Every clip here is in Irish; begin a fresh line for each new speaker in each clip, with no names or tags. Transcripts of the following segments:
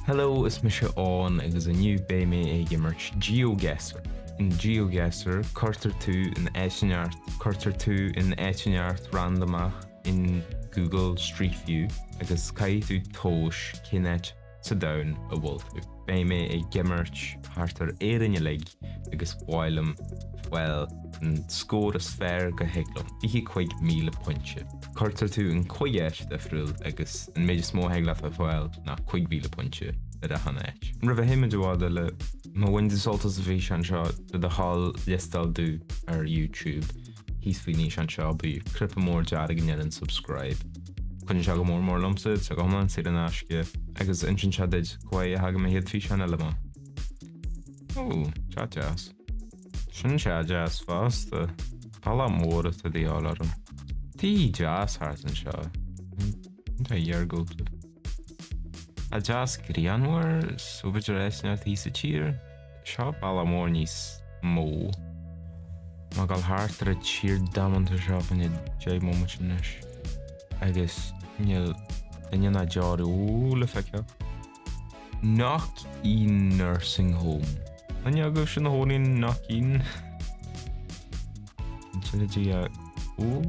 Hello, is mise Eoghan agus inniu beidh mé ag imirt GeoGuessr. In GeoGuessr, cuirtear tú in áit, cuirtear tú in áit inteacht randamach in Google Street View agus caithfidh tú tomhas cén áit sa domhan a bhfuil tú. Beidh mé ag imirt thart ar Éirinn uilig agus ba mhaith liom fáil an scór is fearr go thig liom, fiche cuig míle pointe. Cuirtear tú in cuig áit difriúil agus an méid is mó a thig leat a fháil ná cuig mhíle pointe ar achan áit. Roimh a théimid i bhfad eile, má bhaineann tú sult as an bhfíseán seo le do thoil liostáil domh ar YouTube. thíos faoin fhíseán seo, beidh cnaipe mór dearg ann a deir subscribe. Cuidíonn sé go mór mór liomsa, tá sé go hiomlán saor in aisce. Agus insíonn sé duit cá huair a thagann mo chéad físeán eile amach. Ó, teach deas. Sin teach deas fosta. Tá baile mór de dhíobháil orm. Tithe deasa thart anseo. Áit iargúlta. Tá deas grianmhar, so b'fhéidir áit inteacht thíos sa tír. Seo baile mór níos mó. Mé ag gabháil thart ar an tír damanta seo faoi choinne deich mbomaite anois agus níl duine ná deoraí le feiceáil. Knockeen nursing home. An agaibh sin a thóinín Knockeen? An teilidí a úll?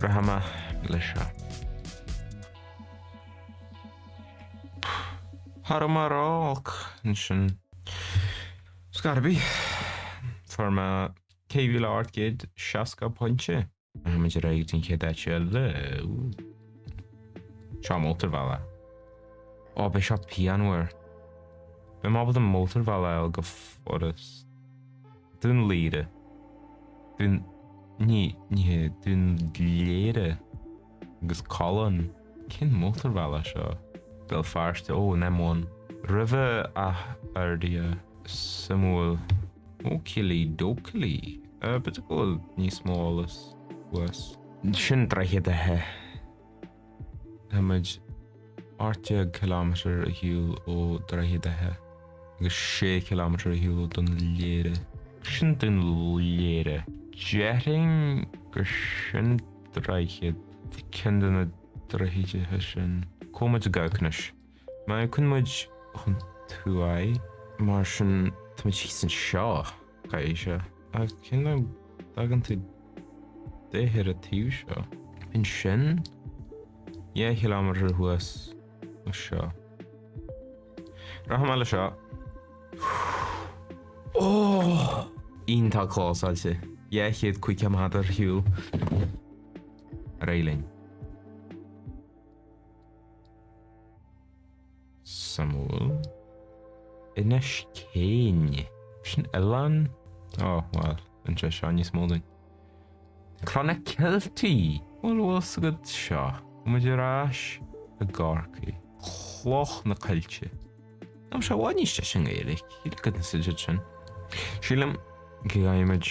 Brath amach le seo. Ní raibh mé ró-olc ansin. Scarby, fuair mé ceithre mhíle ocht gcéad seasca pointe. Téimid ar aghaidh don chéad áit eile. Seo mótarbhealach. Ó, beidh seo pianmhar. Beidh mé ábalta mótarbhealaí a fháil go furast. Dún Laoghaire. Dún ní ní hé Dún Léire agus Collann. Cén mótarbhealach seo? Béal Feirste, ó, an M1. Roimh Áth Fhirdhia. Suimiúil. Okilly dokilly. Uh, b'fhéidir go bhfuil níos mó eolais thuas. Sin Droichead Átha. Tá muid 18 km ar shiúl ó Droichead Átha agus 6 km ar shiúl ó Dún Léire. Sin Dún Léire. Déarfainn gur sin Droichead, ceann de na droichid sin. So tá muid i gcóngar. Má fheiceann muid chun tuaidh, mar sin, táimid thíos anseo, cad é seo? Ach cé nach dtagann tú de ar an taobh seo? Ansin, dhá chiliméadar thuas ó seo. Rachaidh mé le seo. Oh! Iontach clósáilte. Dhá chéad caoga méadar ar shiúl ar aghaidh linn. Suimiúil. Inis Céin. Sin oileán? Ó, bhuel, an sé seo níos mó den. Clonakilty! Bhuel, an bhfuil 's agat seo? Muid ar ais i gCorcaigh. Cloich na Coillte. Tá sé i bhfad níos deise i nGaeilge, cad is an suidead sin? Sílim go gcaithfidh muid.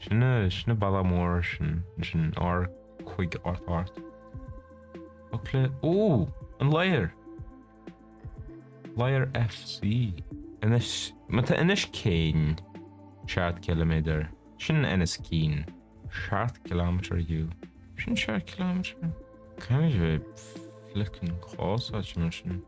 Sin é, sin é bealach mór, sin, sin R cúig ocht ocht. Ach le, ó! An Ladhar! Ladhar FC. Anois, má tá Inis Céin seacht gciliméadar, sin Inis Céin. Seacht gciliméadar fhiú, sin seacht gciliméadar. Caithfidh mé bheith flickin' clósáilte mar sin.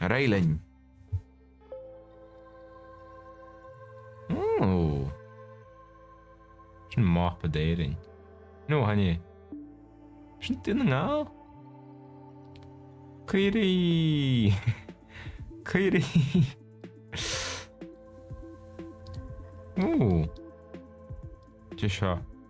Ar aghaidh linn! Ooh. Sin mapa d'Éirinn. Nó haine. Sin Dún na nGall? Caoirigh! Caoirigh! Ooh. Dé seo.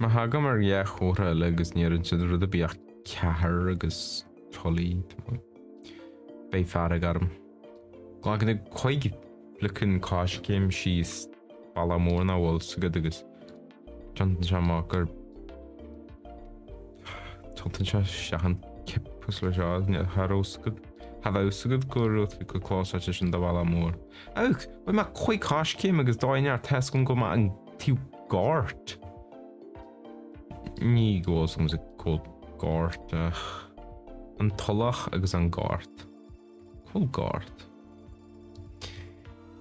Má thagaim ar dhá chomhartha eile agus ní deireann siad rud ar bith ach Cathair agus Trá Lí tamall, beidh fearg orm. Glacann tú cúig flickin' coiscéim síos bealach mór an bhfuil s'agat agus tiontaíonn sé amach gur tiontaíonn sé seachain cipus leis seo, cha raibh s'agat, cha bheadh s'agat go raibh tú chomh clósáilte sin do Bhaile Mór. Ach bhfuil mé cúig coiscéim agus d'fháinne ar Tesco go mbeadh an Tú gort. Ní go bhfuil 's agamsa cúl gort ach an tulach agus an gort. Cúl gort.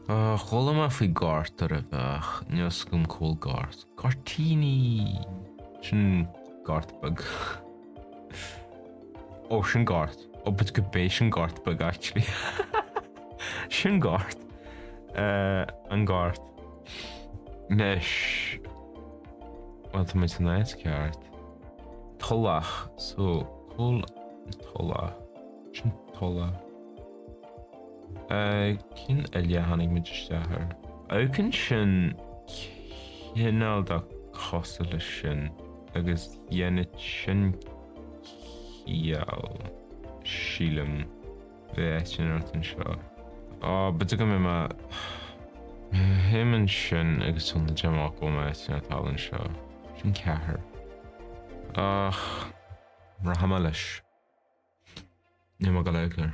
Á, chuala mé faoi gort roimhe ach níl 's agam cúl gort. Gortíní! Sin gort beag. Ó, sin gort. Ó, b'fhéidir gurb é sin gort beag actually. Sin gort. Uh, an gort. Anois, bhuel, tá muid san áit cheart. Tulach, so, cúl an tulach, sin tulach. Eh, cén uillinn a tháinig muid isteach air? Amharcann sin cineál de cosúil leis sin agus dhéanfadh sin ciall, sílim. Tá eitinn ort anseo. Á, b'fhéidir go mbeidh mé. Shuigh an sin agus thug na deich mbác uaim a Eitinn a tal anseo. Sin ceathair. Ach rachaidh mé leis. Níl mé go ró-clear.